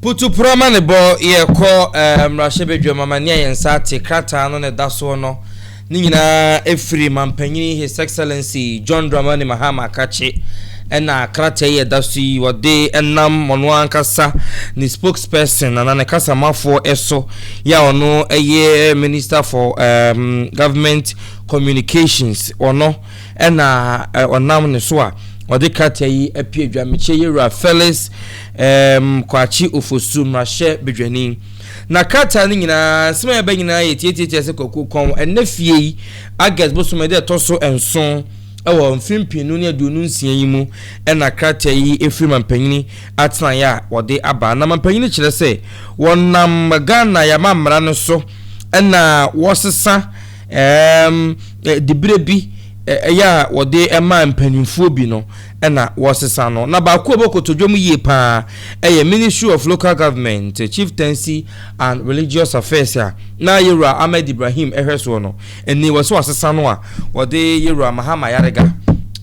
Putuporɔ ma ne bɔ yɛ kɔ ɛɛ mmarahyɛbadwam ama nea yɛn nsa ate krataa no na ɛda soɔ no ne nyinaa ɛfiri Mampanyini His Excellency John Dramani Mahama Akakye ɛna krataa yi ɛda so yi wɔde ɛnam ɔno ankasa ne spokesperson anaa ne kasamafoɔ ɛso yɛ a ɔno ɛyɛ Minister for um, Government Communications ɔno ɛna ɔnam ne so a wɔde krataa yi apue dwamekyɛ yɛwura Felix Erm Kwakye Ofosu mmarahyɛ badwani. Na krataa no nyinaa nsɛm a ɛba nyinaa yɛ tietie kyerɛ sɛ Kwaku Kɔn ɛnnɛ fie yi August bosome ɛda ɛtɔ so nson ɛwɔ mfe mpenu ne aduonu nsia yi mu ɛna krataa yi ɛfiri mampanyini atenaeɛ a wɔde aba. Na mampanyini kyerɛ sɛ wɔnam Ghana yɛn amammara no so ɛna wɔsesa erm diberɛ bi ɛyɛ a wɔde ɛma mpaninfoɔ bi no. na wɔresesa no, na baako a ɔbɔ kotodwe mu yie pa ara yɛ Ministry of Local Government, Chieftaincy and Religious Affairs a na Yewura Ahmed Ibrahim hwɛ soɔ no. Ɛnni wɔ sɛ wɔasesa no a, wɔde Yewura Mahama Yariga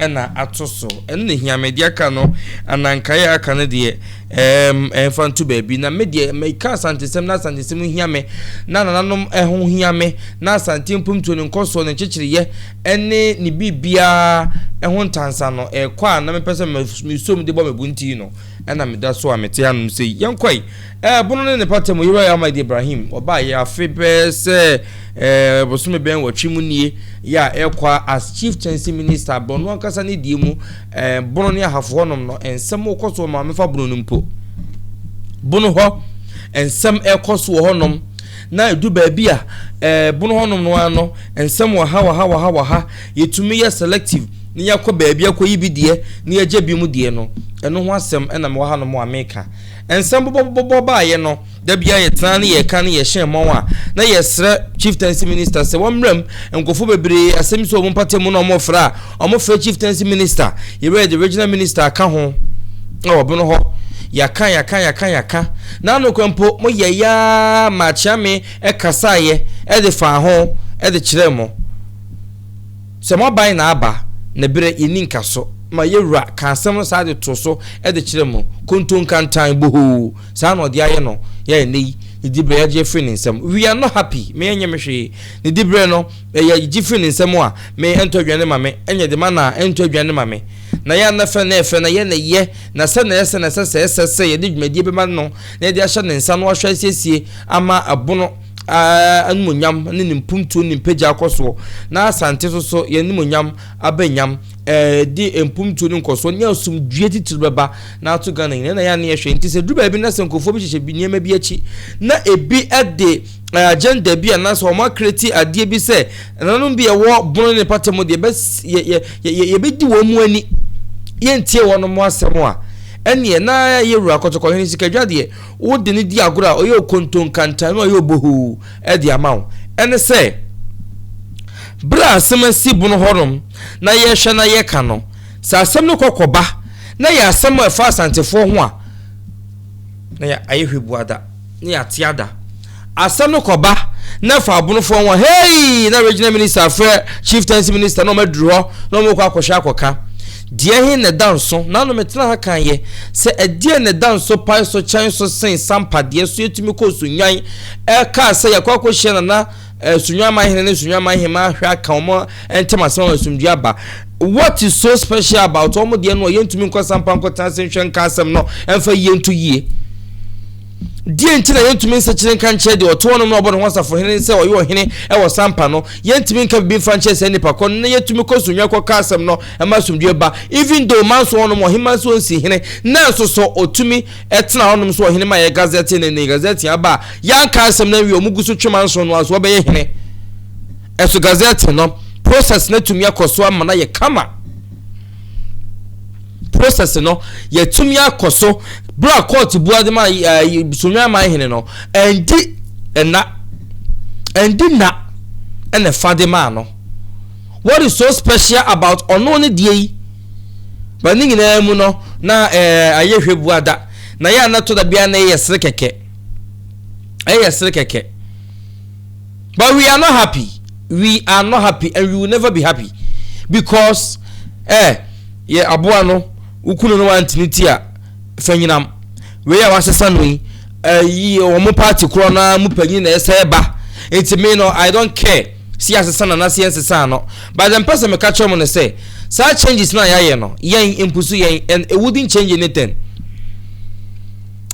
na ato so. Ɛno na ɛhia me. Deɛ aka no, anankaeɛ a aka no deɛ, ɛɛm, ɛmfa nto baabi. Na me deɛ, meka Asantesɛm na Asantesɛm hia me, na nananom ho hia me, na Asante mpomtuo, ne nkɔsoɔ, ne nkyekyereeɛ, ne ne biribiara ho ntansa no rekɔ a na mepɛ sɛ mesɔ mu de bɔ me bo nti no, ɛna meda so a mete anom sɛ yi. Yɛnkɔe. Ɛpono ne ne pata mu, Yerua Ahmad Ibrahim, ɔbaeɛ afe bɛyɛ sɛ ɛɛ bosome bɛn wɔtwe mu nie, yɛ a ɛrekɔ a as Chief Kyɛnse Minister, Borno ankasa ne deɛ mu, ɛɛ Bono ne Ahafo hɔnom no, nsɛm rekɔ so wɔ Maame fa Bono no mpo. Bono hɔ, nsɛm rekɔ so wɔ hɔnom. Na edu baabi a, ɛɛ, bon hɔnom no ara no, nsɛm wɔ ha, wɔ ha, wɔ ha, wɔ ha, yɛtumi yɛ selective na yɛakɔ baabi akɔyi bi deɛ na yɛagya binom deɛ no, ɛno ho asɛm na mewɔ hanom a mereka. Nsɛm bobɔbobɔbɔ baeɛ no, da biara yɛtenaa ne yɛreka ne yɛhyɛn mmɔn a na yɛsrɛ Chieftaincy Minister sɛ wɔmmram nkurɔfoɔ bebree asɛm yi sɛ wɔn mpatamu na wɔrefrɛ a, Wɔfrɛ Chieftaincy Minister yerɛ de Regional Minister aka ho na wɔbeno hɔ. Yɛaka, yɛaka, yɛaka, yɛaka, na ano kora mpo moyɛeɛ ara ma Akyeame kasaeɛ de faa ho de kyerɛɛ mo sɛ moaban na aba, na berɛ yɛnni nkaso ma yɛn wura kaa asɛm no saa de too so de kyerɛɛ mo kontonkantan bohoo, saa na ɔde ayɛ no yɛ a ɛnnɛ yi ne diberɛ yɛagye afiri ne nsam. We are not happy, me ɛnyɛ me hwee, ne diberɛ no Na yɛ gye firi ne nsa mu a, me, ɛntɔ aduane ma me, ɛnyɛ de ma no a, ɛntɔ aduane ma me. Na yɛ na fɛ na ɛfɛ, na yɛ na yɛ, na sɛ na ɛsɛ na ɛsɛ sɛ ɛsɛ sɛ yɛde dwumadie bɛma no na yɛde ahyɛ ne nsa na wahwɛ asiesie ama ɛbono animuonyam ne ne mpuntuo ne mpagya akɔ soɔ, na Asante so so yɛn animuonyam aba nyam, ɛde mpuntuo ne nkɔsoɔ ne asomdwie titiri bɛba na ato Ghana nyina na yɛ na yɛhwɛ. Nti sɛ duru baabi na sɛ nkurɔfoɔ bi hyehyɛ nneɛma bi akyi na ebi de agenda bi anaasɛ wɔn akreti adeɛ bi sɛ ɛnanom bi ɛwɔ bono ne pata mu deɛ yɛbɛdi wɔn mu ani yɛntie wɔn mu asɛm a ɛneɛ na yɛ wura kɔtɔkɔhene sikadwa deɛ wode ne di agorɔ a ɔyɛ okontonkantan na ɔyɛ obohoo ɛde ama wo ɛne sɛ berɛ a asɛm asi bono hɔnom na yɛhwɛ na yɛka no sɛ asɛm no kɔkɔba na yɛ asɛm a ɛfa asantefoɔ ho a na yɛ ayɛ hwɛ buada Ne yɛate ada. Asɛm no kɔba na ɛfa abonofoɔ ho a, hei na regional minister afrɛ chieftaincy minister na wɔaduru hɔ na wɔkɔ akɔhwɛ akɔka. Deɛ he na ɛda nso, naano metena ha kan yɛ, sɛ ɛdeɛ na ɛda nso pae so kyɛn so sen sampadeɛ so yɛtumi kɔɔ Sunnwan ɛkaa sɛ yɛkɔ akɔhyia Nana Sunwamma hene ne Sunwamma hemmaa ahwɛ aka wɔn ntam asɛm ama asomdwoe aba. What is so special about wɔn deɛ no a yɛntumi nkɔ sampa nkɔtena ase nhwɛ nka asɛm no mfa yie nto yie? Deɛ nti na yɛntumi nsakyere nka nkyerɛ deɛ ɔte hɔnom na ɔbɔ ne ho asafo hene sɛ ɔyɛ ɔhene wɔ sampa no? Yɛntumi nka biribi mfa nkyerɛ saa nnipa kɔ no na yɛtumi kɔ Sunwa kɔka asɛm no ma asomdwoe ba even though manso hɔnom ɔhemmaa nso nsi hene nanso so ɔtumi Ɛtenaa hɔnom nso ɔhene ma yɛɛ gazɛte no ne gazɛte aba a yɛanka asɛm no awie wɔn gu so twem anson no ara so wɔbɛyɛ hene. Ɛso gazɛte no process no atumi akɔ so ama no ayɛ kama. Process no yɛatumi akɔ so berɛ a kɔɔte bu ade ma eh, sonwan aman hene no ɛndi ɛna ɛndi na ɛna fa de maa no. What is so special about ɔno ne deɛ yi? But ne nyinaa mu no, na ɛɛ ayɛ hwɛ bu ada. Na yɛ a na to da biara na ɛyɛ sere kɛkɛ. Ɛyɛ sere kɛkɛ. But we are not happy. We are not happy and we will never be happy. Because eh, yɛ aboa no, wokunu no wantini ti a, fa nyinam. Wei a wasesa no yi, ɛyi, wɔn party korɔ no ara mu panyin na ɛsɛ ba. Nti me no, I don't care. Si asesa no anaa si ɛnsesaa no. But the mpɛ sɛ meka kyerɛ mo no sɛ saa changes no a yɛayɛ no yɛn mpo so yɛn and it wouldn't change anything.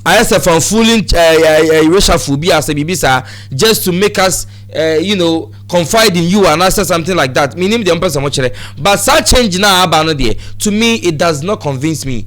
Ayɛ sɛ fan fooling uh, eh, uh, eh, uh, eh, reshuffle bi asɛ biribi saa just to make us uh, you know confide in you and I said something like that. Meaning the mpɛ sɛ mo kyerɛ. But saa change no a aba no deɛ to me it does not convince me.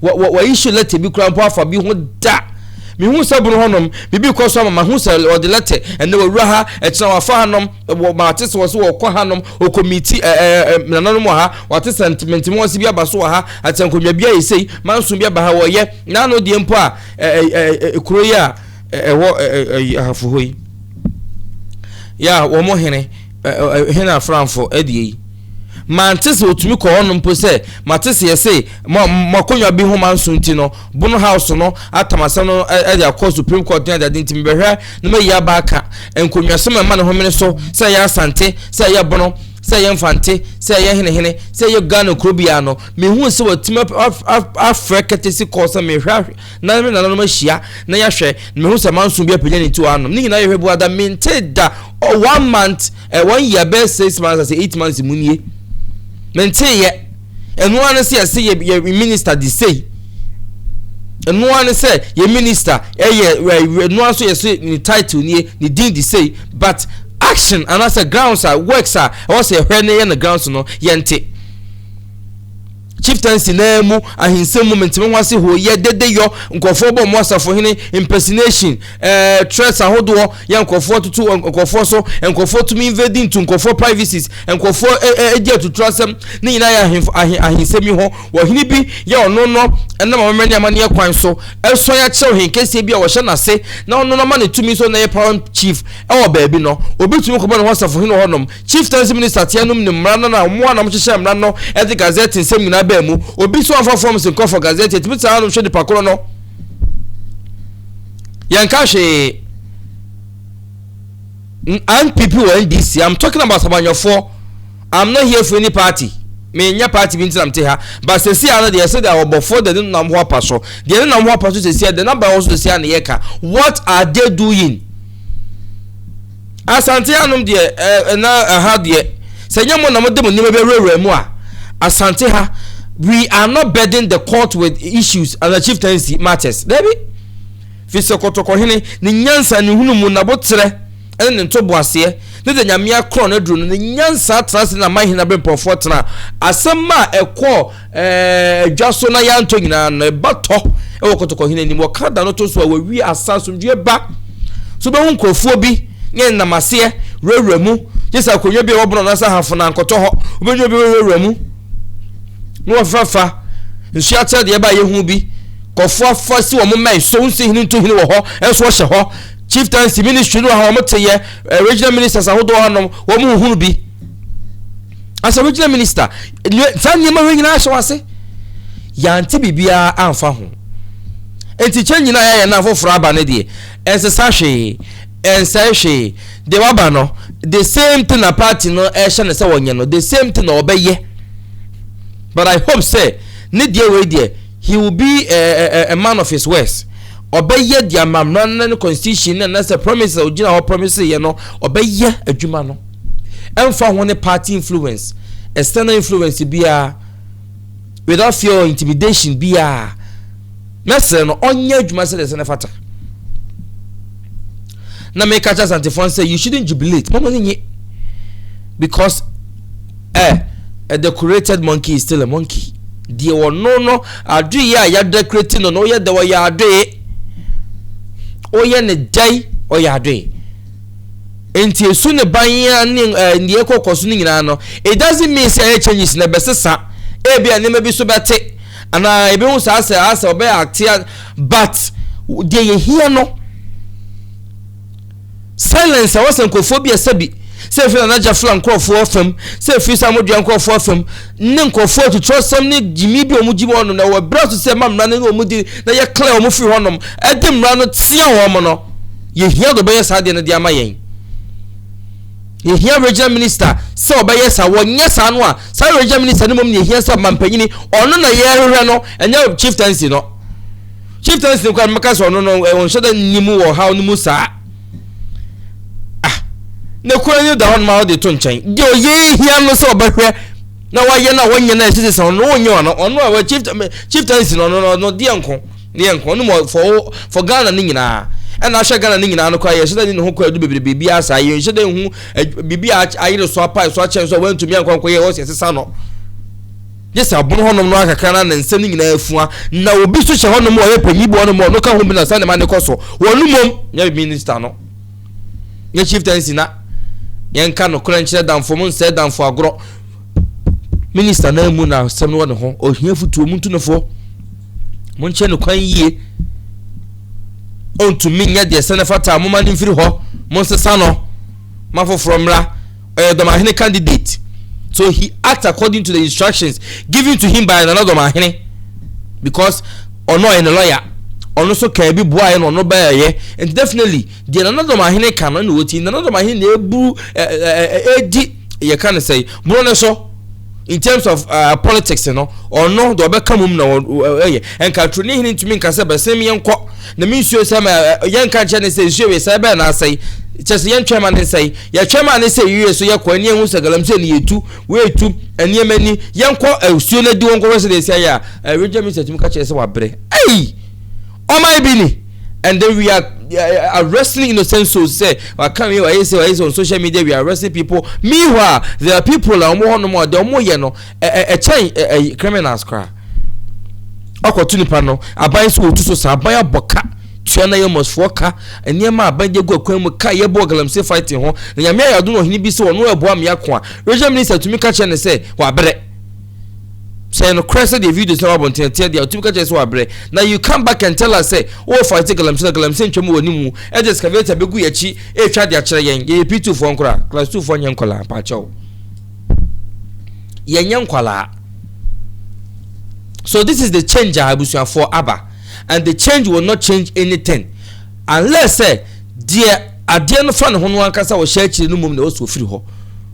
Wɔ, wɔ, wɔayi so lɛtɛ bi koraa mpo afa bi ho da. Mehuu sɛ bono hɔnom, biribi rekɔ so ama mahu sɛ wɔde lɛtɛ, ɛnnɛ wɔawura ha, ɛkyena wɔafa hanom, wɔ, mate sɛ wɔse wɔkɔ hanom, wɔ komiti, ɛ, ɛ, ɛ, nananom wɔ ha, wɔate sɛ ntementem wɔse bi aba so wɔ ha, ate nkonnwa bi ayɛ sei, manso bi aba ha, wɔyɛ, na ano deɛ mpo a, ɛ, ɛ, ɛ, ɛ, ɛ, kuro yi a ɛ, ɛwɔ ɛ, ɛ, ɛ, ahafo hɔ yi, ya, wɔn hene, ɛ, ɛ, ɛ, hene afranfo, ɛdeɛ yi. Mante sɛ otumi kɔ hɔ no mpo sɛ mate sɛ yɛse mo mo akonnwa bi ho manso nti no Bono House no atam asɛm no de akɔ Supreme Court ne adeade nti mebɛhwɛ na mayi aba aka nkonwasɛm a ɛma ne homene so sɛ ɛyɛ Asante sɛ ɛyɛ Bono sɛ ɛyɛ Mfante sɛ ɛyɛ Henehene sɛ ɛyɛ Ghana kuro biara no mehuu sɛ watumi afrɛ courtesy call sɛ mehwɛ Na me ne nananom ahyia na yɛahwɛ, na mehu sɛ manso bi apagya ne ti wɔ anom. Ne nyinaa yɛ hwɛ bu ada, mente da one month, eh, one year bɛyɛ six months ase eight months mu nie. Mente yɛ. Ɛno ara ne sɛ yɛse yɛ yɛ minister de sei. Ɛno ara ne sɛ yɛ minister ɛyɛ ɛno ara nso yɛse ne title nie, ne din de sei, but action anaasɛ grounds a works a ɛwɔ sɛ yɛhwɛ ne yɛ no grounds no yɛnte. Chieftaincy naa mu ahinsɛm mu menteme ho ase hoo yɛ dede yɔ nkurɔfoɔ bɔ mo asafohene impersonation ɛɛ eh, threats ahodoɔ yɛ nkurɔfoɔ tutu nkurɔfoɔ so nkurɔfoɔ tumi invade ntu nkurɔfoɔ privacies nkurɔfoɔ ɛɛ eh, ɛgye eh, atuturo asɛm ne nyinaa yɛ ahen ahen ahensɛm yi ho wɔhene bi yɛ ɔno no ɛnam amammerɛ ne amanneɛ kwan so ɛsɔn akyerɛw hen kɛseɛ bi a wɔhyɛ n'ase na ɔno no ma ne tumi so na yɛ power chief ɛwɔ baabi no obi tumi kɔbɔ ne ho asafohene hɔnom Chieftaincy Minister tea nom nim mmara no na wɔn ara na wɔhyehyɛ mmara no de Gazette nsɛm nyinaa baa mu. Obi nso amfa forms nkɔ for Gazette, yɛtumi tena hanom hwɛ nipa koro no. Yɛnka hwee. NPP wɔ NDC, I'm talking about Sabanyɔfoɔ. I'm not here for any party. menyɛ party bi ntina mte ha ba sɛsi ano deɛ ɛsɛ deɛ ɔbɔfoɔ deɛ ne nam ho apa so deɛ ne nam ho apa so sɛsi a deɛ naba wɔ so sɛsi a ne yɛ ka what are they doing Asante hanom deɛ ɛɛ eh, na ɛha deɛ sɛ nyɛ mo na mo de mo nneɛma bi awurawura mu a asante ha we are not burden the court with issues and the chieftaincy matters dabi fi sɛ kɔtɔkɔhene ne nyansa ne hunu mu naboterɛ ɛne ne ntoboaseɛ ne de nyamea korɔ no aduro no ne nyansa tena ase na man hene aberempɔfoɔ tena asɛm a ɛkɔɔ Ɛɛ, dwa so na yɛantɔ nyinaa no, ɛba tɔ wɔ kɔtɔkɔhene anim. Wɔka da no to so a, wɔawie asa, asomdwoeɛ ba. So bɛhu nkurɔfoɔ bi ne nam aseɛ wurawura mu, gye sɛ akonnwa bi a wɔbɔnɔ no asa hafo na nkɔtɔ hɔ. Wobɛnya obi wurawura mu na wɔfefafa nsuo akyerɛ deɛ ɛba a yɛhu bi. Kɔfoɔ afa si wɔn mmɛn so, nsi hene ntu hene wɔ hɔ, ɛnso wɔhyɛ hɔ. Chieftaincy ministry no wɔ ha, wɔn teyɛ, eh, regional ministers ahodoɔ hanom, wɔn huhunu bi. as a regional minister saa nneɛma wei nyinaa ahyɛ wase yɛante biribiara amfa ho nti kyɛ nyina yɛayɛ no afoforɔ aba no deɛ ɛnsesa hwee ɛnsɛe hwee deɛ waba no the same thing na party no ɛhyɛ no sɛ wɔnyɛ no the same thing na wɔbɛyɛ but i hope sɛ ne deɛ wei deɛ He will be a, a, a, a man of his words. Ɔbɛyɛ deɛ amammerɛ no ne constitution no anasɛ promise a ɔgyina hɔ promise yɛ no ɔbɛyɛ adwuma no. Ɛmfa ho ne party influence, external influence biara, without fear or intimidation biara. Mɛsrɛ no ɔnyɛ adwuma sɛdeɛ sɛ ne fata. na meka kyerɛ asantefoɔ sɛ you shouldn't jubilate mɔmɔ ne nye because eh, a decorated monkey is still a monkey deɛ wɔno no adoeɛ a yɛadekorati no no woyɛ dɛ ɔyɛ adoe woyɛ ne dɛn ɔyɛ adoe nti esu ne ban a ne eh, nea ɛkɔkɔ so no nyinaa no it doesn't mean sɛ ɛyɛ changes na ɛbɛsesa ebi a nneɛma bi so bɛte anaa ebi ho saa sɛ asɛ ɔbɛyɛ atea But deɛ yɛhia no silence a wɔsɛ nkurɔfoɔ bi ɛsɛ bi sɛ ɛfiri Nana Agya fla nkurɔfoɔ fam sɛ ɛfiri sɛ amodua nkurɔfoɔ fam ne nkurɔfoɔ atutorɔ sɛm ne gyimi bi wɔn gyimi wɔn na wɔn berɛ so sɛ ɛma mmara no ne wɔn di na yɛ clear wɔn firi hɔnom ɛde mmara no tea wɔn no yɛhia de ɔbɛyɛ saa deɛ no de ama yɛn yɛhia regional minister sɛ ɔbɛyɛ saa wɔnyɛ saa no a saa regional minister no mmom ne yɛhia sɛ ɔmampanyini ɔno na yɛhwehwɛ no ɛnyɛ chieftaincy no chief tansi kwan mɛka sɛ ɔno no ɔnhyɛ da nni mu wɔ haw no mu saa ah na kura no da hɔ nom a ɔde to nkyɛn deɛ ɔyɛ hia no sɛ ɔbɛhwɛ na wayɛ no a wɔnyɛ no a ɛsɛ sɛ ɔno wɔnyɛ ɔno ɔno a chief chief tansi no ɔno ɔno deɛ nko deɛ nko ɔno mu fɔ fɔ ghana no nyinaa ɛna ahyɛ ghana no nyinaa no kɔ ayɛ hyɛ dɛ ne ho kɔ adu bebree biribi asa yɛ nhyɛ dɛ hu biribi a ayere so apa so akyɛn so a wɔntumi ankɔ ankɔ yɛ wɔsi ɛsesa no gye sɛ ɔbon hɔnom no ara kakra na ne nsɛm no nyinaa afua, na obi nso hyɛ hɔnom a ɔyɛ panyin bi hɔnom a ɔno ka ho bi na sɛ nneɛma no kɔ so. Wɔn no mmom, nyɛ minista no, nyɛ chieftaincy na yɛnka nokorɛ nkyerɛ damfo mo nsɛe damfo agorɔ. Minista no ara mu na asɛm no wɔ ne ho. Ohia futuo mu ntu no fo. Monkyɛ no kwan yie. Ɔntumi nyɛ deɛ sɛ ne fata a moma no mfiri hɔ. Monsesa no ma foforɔ mmra. ɔyɛ dɔmahene candidate so he act according to the instructions given to him by nana dɔmahene because ɔno ɔyɛ ne lawyer ɔno nso kaa bi boaeɛ na ɔno bɛɛyɛ and definitely deɛ nana dɔmahene ka no na wɔti nana dɔmahene na ɛbu ɛdi yɛka no sɛ borɔ no so in terms of uh, politics no ɔno deɛ ɔbɛka mu na ɛyɛ ɛnka turo ne hene ntumi nka sɛ bɛsɛm yɛnkɔ na me nsuo sɛ yɛnka nkyɛ ne sɛ nsuo wei sɛ ɛbɛn na asɛe kyɛ sɛ yɛntwɛn ma ne nsɛe yɛtwɛn ma ne sɛ yiye so yɛkɔ ani ehu sɛ galamsey ne yɛtu wɔatu nneɛma ni yɛnkɔ nsuo no adi wɔn kɔfɛ sɛ deɛ ɛsi ayɛ a ɛregya mi sɛ tumi ka kyerɛ sɛ wabrɛ ɛyi Ɔman bi ni and then we are uh, arresting innocent souls say waka wi wayɛ sɛ wayɛ sɛ on social media we are arresting people meanwhile there are people a wɔn hɔ nom a deɛ wɔn yɛ no ɛkyɛn ɛɛ criminals koraa ɔkɔto nipa no aban so wɔtu so saa aban abɔ ka tua na yɛ mɔsfoɔ ka nneɛma aban de gu akwan mu ka yɛbɔ galamsey fighting ho na nyame ayɛ ado na ɔhene bi sɛ ɔno ɛboa mmea ko a regional minister tumi ka kyerɛ ne sɛ wabrɛ sɛ nokorɛ sɛ deɛ videos na wabɔ ntɛn teɛ deɛ ɔtumi ka kyerɛ sɛ wabrɛ na you come back and tell us sɛ wowɔ fight galamsey na galamsey ntwa mu wɔ ne mu ɛde excavator bɛgu yɛ akyi ɛretwa de akyerɛ yɛn yɛyɛ p2 foɔ nkora class 2 foɔ nyɛ nkɔlaa paakyɛw yɛnyɛ nkɔlaa so this is the change a abusuafoɔ aba and the change will not change anything unless sɛ deɛ Adeɛ no fa ne ho no ankasa a ɔhyɛ akyire no mmom na ɛwɔ sɛ ɔfiri hɔ.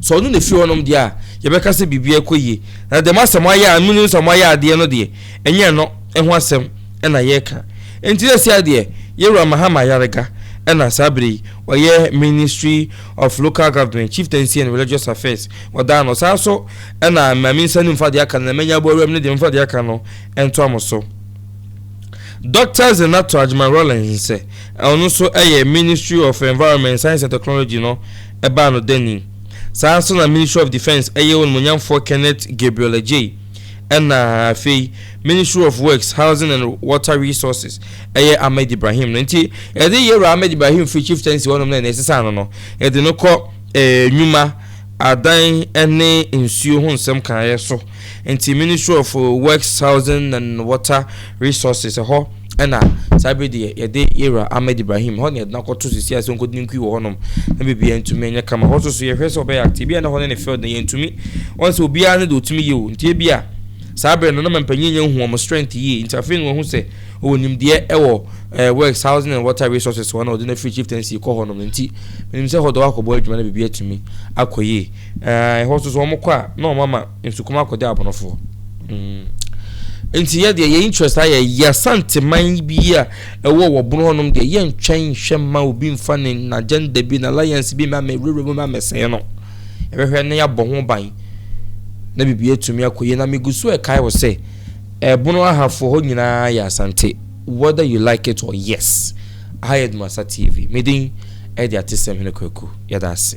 Sɛ ɔno na ɛfiri hɔnom deɛ a, yɛbɛka sɛ biribiara rekɔ yie. Na dɛm asɛm ayɛ a monim sɛ wɔayɛ adeɛ no deɛ, ɛnyɛ ɛno ho asɛm na yɛreka. Enti seesei ara deɛ, yɛn Wura Mahama Ayariga na saa berɛ yi ɔyɛ Ministry of Local Government, Chieftaincy and Religious Affairs, wɔdaa no. Saa nso na Maame Nsa Nni Mfa deɛ aka no, na mɛnya aboa awuram no deɛ, momfa deɛ aka no ntoa mo so. Dɔkta Zeenato Agyeman-Rawlings nsɛ a ɔno nso yɛ Ministry of Environment, Science and Technology no baa no da ni. Saa ara nso na Ministry of Defence ɛyɛ Onimuonyamfoɔ Kenneth Gabriel Adjei ɛna afei Ministry of Works, Housing and Water Resources ɛyɛ Ahmed Ibrahim no. Nti yɛde Yɛwura Ahmed Ibrahim firi Chieftaincy hɔnom na yɛsesaa no no, yɛde no kɔ eh, nnwuma, adan ne nsuo ho nsɛm kaeɛ so. Nti Ministry of Works Housing and Water Resources ɛhɔ ɛna saa bere deɛ yɛde yɛwura Ahmed Ibrahim hɔ na yɛde n'akɔto sisi ase nkɔdi ne nkui wɔ hɔnom na biribiara ntumi nyɛ kama hɔ soso yɛhwɛ sɛ ɔbɛyɛ ate ebi a na hɔ ne ne field na yɛntumi wɔn sɛ obiara ne deɛ ɔtumi yie o nti ebi a saa bere no na mpanyin nyɛ nhu wɔn strength yie nti afei na wɔn ho sɛ ɔwɔ nimdeɛ ɛwɔ ɛɛ eh, works housing and water resources wɔn na ɔde no free chieftaincy kɔ hɔnom nti menim sɛ hɔ dɔ akɔbɔ adwuma na biribi atumi akɔ yie Ɛɛ, ɛhɔ nso so wɔkɔ a, na wɔama nsukuma akɔgye abɔnofoɔ. Mm. Nti yɛ deɛ yɛ interest ayɛ yɛ asanteman bi a ɛwɔ wɔ bono hɔnom deɛ yɛ ntwɛn nhwɛ mma obi mfa ne n'agenda bi na alliance bi mma mɛwurawura mu mma mɛsɛn no. Ɛbɛhwɛ na yɛabɔ ho ban na biribi atumi akɔ yie na megu so ɛkae wɔ sɛ ɛbono ahafoɔ hɔ nyinaa yɛ asante whether you like it or yes. Aha yɛ Dumasa TV. Medin ɛde atesɛm hene kwaku yɛda ase.